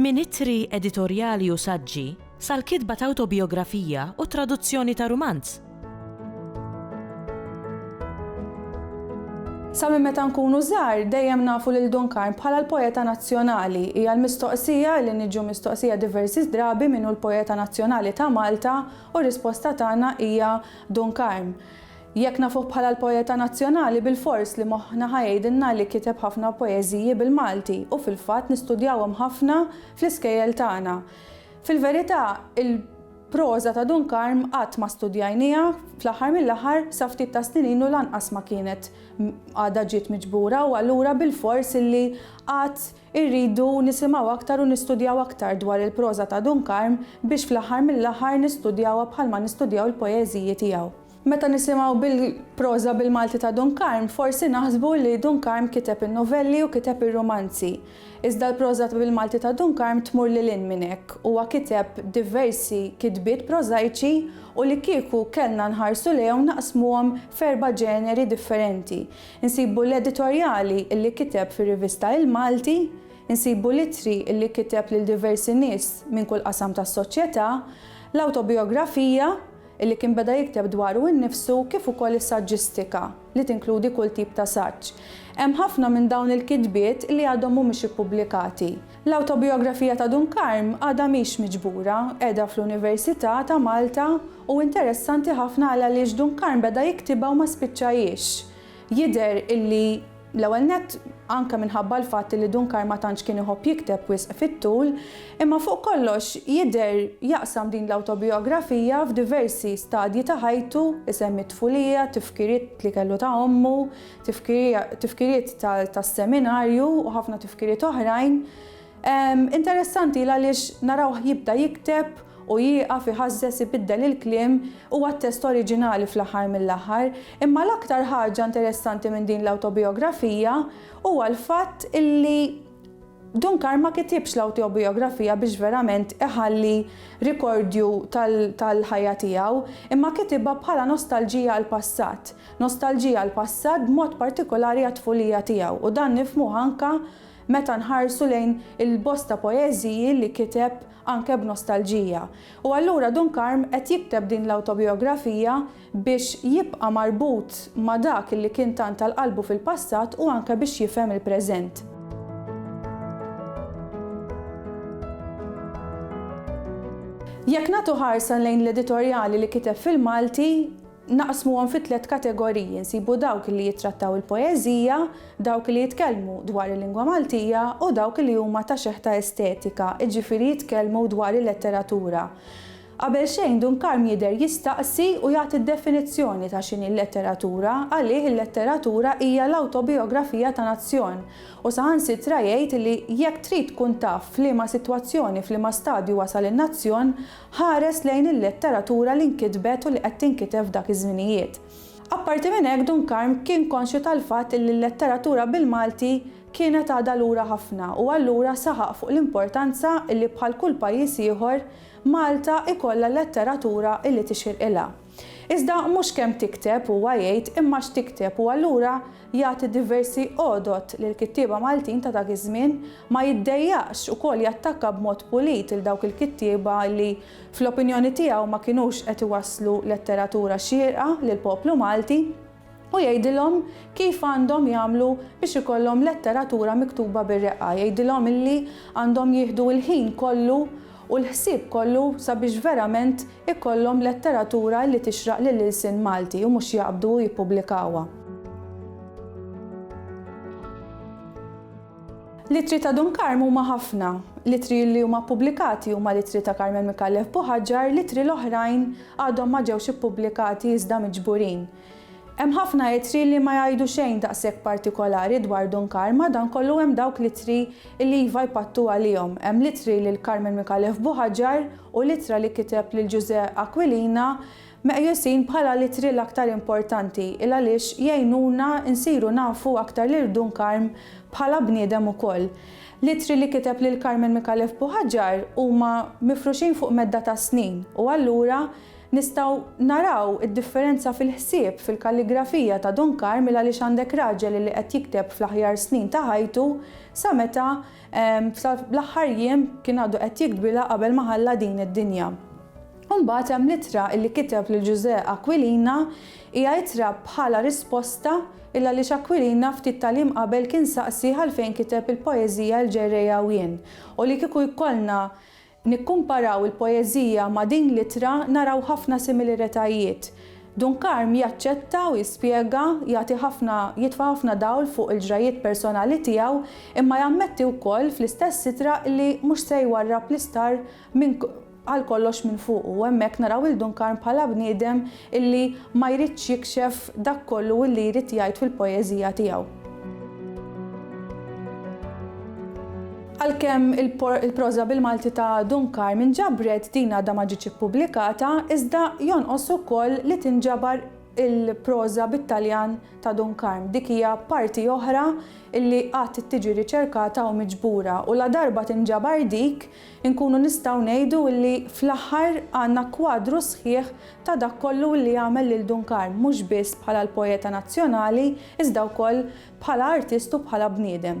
Minn ittri editorjali u saġġi, sal-kitba ta' awtobijografija u t-traduzzjoni ta' rumanz. Sa minn meta nkunu żgħar, dejjem nafu lil Duncan bħala l-poeta nazzjonali. Hija l-mistoqsija li niġu mistoqsija diversi drabi min hu l-poeta nazzjonali ta' Malta u r-risposta tagħna hija Duncan. Jekk nafuh bħala l-poeta nazzjonali bilfors li moħħna ħa jgħidilna li kiteb ħafna poeżiji bil-Malti u fil-fatt nistudjawhom ħafna fl-iskejjel tagħna. Fil-verità, il-proża ta' Dun Karm qatt ma studjajnieha, fl-aħħar mill-aħħar sa ftit tas-snin ilu lanqas ma kienet għadha ġiet miġbura u allura bilfors illi għad irridu nisimgħu aktar u nistudjaw aktar dwar il-proża ta' Dun Karm biex fl-aħħar mill-aħħar nistudjawha bħalma nistudjaw il-poeżiji tiegħu. Meta nisimgħu bil-proża bil-Malti ta' Dun Karm, forsi naħsbu li Dun Karm kiteb in-novelli u kiteb ir-rumanzi. Iżda l-proża bil-Malti ta' Dun Karm tmur lil hinn minn hekk. Huwa kiteb diversi kitbiet prożajċi u li kieku kellna nħarsu lejhom naqsmuhom f'erba' ġeneri differenti. Insibu l-editorjali li kiteb fir-rivista Il-Malti, insibu l-ittri li kiteb lil diversi nies minn kull qasam tas-soċjetà, l-awtobijografija, li kien beda jikteb dwaru nnifsu kif ukoll is-saġġistika, li tinkludi kull tip ta' saġġ. Hemm ħafna minn dawn il-kitbiet li għadhom mhumiex ippubblikati. L-awtobijografija ta' Dun Karm għadha mhix miġbura, qiegħda fl-Università ta' Malta u interessanti ħafna għal għaliex Dun Karm beda jiktibha u ma spiċċajhiex. Jidher illi. L-ewwel nett, anke minħabba l-fatt li Dunkar ma tantx kien iħobb jikteb wisq fit-tul, imma fuq kollox jidher jaqsam din l-awtobijografija f'diversi stadji ta' ħajtu, isemmi t-tfulija, tifkiriet li kellu ta' ommu, tifkiriet tas-seminarju u ħafna tifkiriet oħrajn. Interessanti l-għaliex narawh jibda jikteb u jieqaf, iħażżeż, ibiddel il-kliem, huwa t-test oriġinali fl-aħħar mill-aħħar. Imma l-aktar ħaġa interessanti minn din l-awtobijografija huwa l-fatt illi Dunkar ma kitibx l-awtobijografija biex verament iħalli rikordju tal-ħajja tiegħu, imma kitibha bħala nostalġija għall-passat. Nostalġija għall-passat b'mod partikolari għat-tfulija tiegħu u dan nifhmuh anke meta nħarsu lejn il-bosta poeżiji li kiteb anke b'nostalġija. U allura Dun Karm qed jikteb din l-awtobijografija biex jibqa' marbut ma' dak li kien tant għal qalbu fil-passat u anke biex jifhem il-preżent. Jekk nagħtu ħarsa lejn l-editorjali li kiteb fil-Malti, Naqsmuhom fi tliet kategoriji, nsibu dawk li jittrattaw il-poeżija, dawk li jitkellmu dwar il-lingwa Maltija u dawk li huma ta' xeħta estetika, jiġifieri jitkellmu dwar il-letteratura. Qabel xejn Dun Karm jidher jistaqsi u jagħti d-definizzjoni ta' x'inhi l-letteratura, għalih il-letteratura hija l-awtobijografija ta' nazzjon u saħansitra jgħid li jekk trid tkun taf f'liema sitwazzjoni, f'liema stadju wasal in-nazzjon, Ħares lejn il-letteratura li nkitbet u li qed tinkiteb f'dak iż-żminijiet. Apparti minn hekk Dun Karm kien konxju tal-fatt illi l-letteratura bil-Malti kienet għadha lura ħafna u allura saħaq fuq l-importanza illi bħal kull pajjiż ieħor Malta ikollha letteratura illi tixirqilha. Iżda mhux kemm tikteb huwa jgħid imma x'tikteb u allura jagħti diversi għodod lill-kittieba Maltin ta' dak iż-żmien, ma jiddejjaqx ukoll jattakka b'mod pulit lil dawk il-kittieba li fl-opinjoni tiegħu ma kinux qed iwasslu letteratura xierqa lill-poplu Malti. U jgħidilhom kif għandhom jagħmlu biex ikollhom letteratura miktuba bir-reqqa, jgħidilhom illi għandhom jieħdu l-ħin kollu u l-ħsieb kollu sabiex verament ikollhom letteratura illi tixraq lill-ilsien Malti u mhux jaqbdu u jippubblikawha. L-ittri ta' Dun Karm huma ħafna. L-ittri li huma ppubblikati huma l-ittri ta' Carmel Micallef Buħaġar, l-ittri l-oħrajn għadhom ma ġewx ippubblikati iżda miġburin. Hemm ħafna ittri li ma jgħidu xejn daqshekk partikolari dwar Dun Karm, madankollu hemm dawk l-ittri li iva jpattu għalihom. Hemm l-ittri lil Carmel Micallef Buħaġar u l-ittra li kiteb lil Ġużè Aquilina, Meqjusin bħala l-ittri l-aktar importanti il għaliex jgħinuna nsiru nafu aktar lil Dun Karm bħala bniedem ukoll. L-ittri li kiteb lil Carmen Micallef Buhagiar huma mifruxin fuq medda ta' snin u allura nistgħu naraw id-differenza fil-ħsieb, fil-kalligrafija ta' Dun Karm il għaliex għandek raġel li qed jikteb fl-aħjar snin ta' ħajtu sa meta Sa l-aħħar jiem kien għadu qed jikbilha qabel ma ħalla din id-dinja. U mbagħad hemm l-ittra li kiteb lil Ġużè Aquilina, hija ittra bħala risposta il għaliex Aquilina ftit tal-jiem qabel kien saqsi għalfejn kiteb il-poeżija Il-Ġerrejja u Jien, u li kieku jkollna Nikkumparaw il-poeżija ma' din l-ittra naraw ħafna similiretajiet. Dun Karm jaċċetta u jispjega, jagħti ħafna, jitfa' ħafna dawl fuq il-ġrajjiet personali tiegħu, imma jammetti wkoll fl-istess ittra li mhux se jwarrab l-istar minn għal kollox minn fuqu u hemmhekk naraw lil Dun Karm bħala bniedem illi ma jridx jikxef dak kollu illi jrid jgħid fil-poeżija tiegħu. Għalkemm il-proża bil-Malti ta' Dun Karmien ġabret din għadha ma ġietx ippubblikata, iżda jonqos ukoll li tinġabar il-proża bit-Taljan ta' Dun Karm. Dik hija parti oħra illi għad tiġi riċerkata u miġbura u ladarba tinġabar dik, Inkunu nistgħu ngħidu illi fl-aħħar għandna kwadru sħiħ ta' dak kollu illi għamel lil Dun Karm mhux biss bħala l-poeta nazzjonali iżda wkoll bħala artist u bħala bniedem.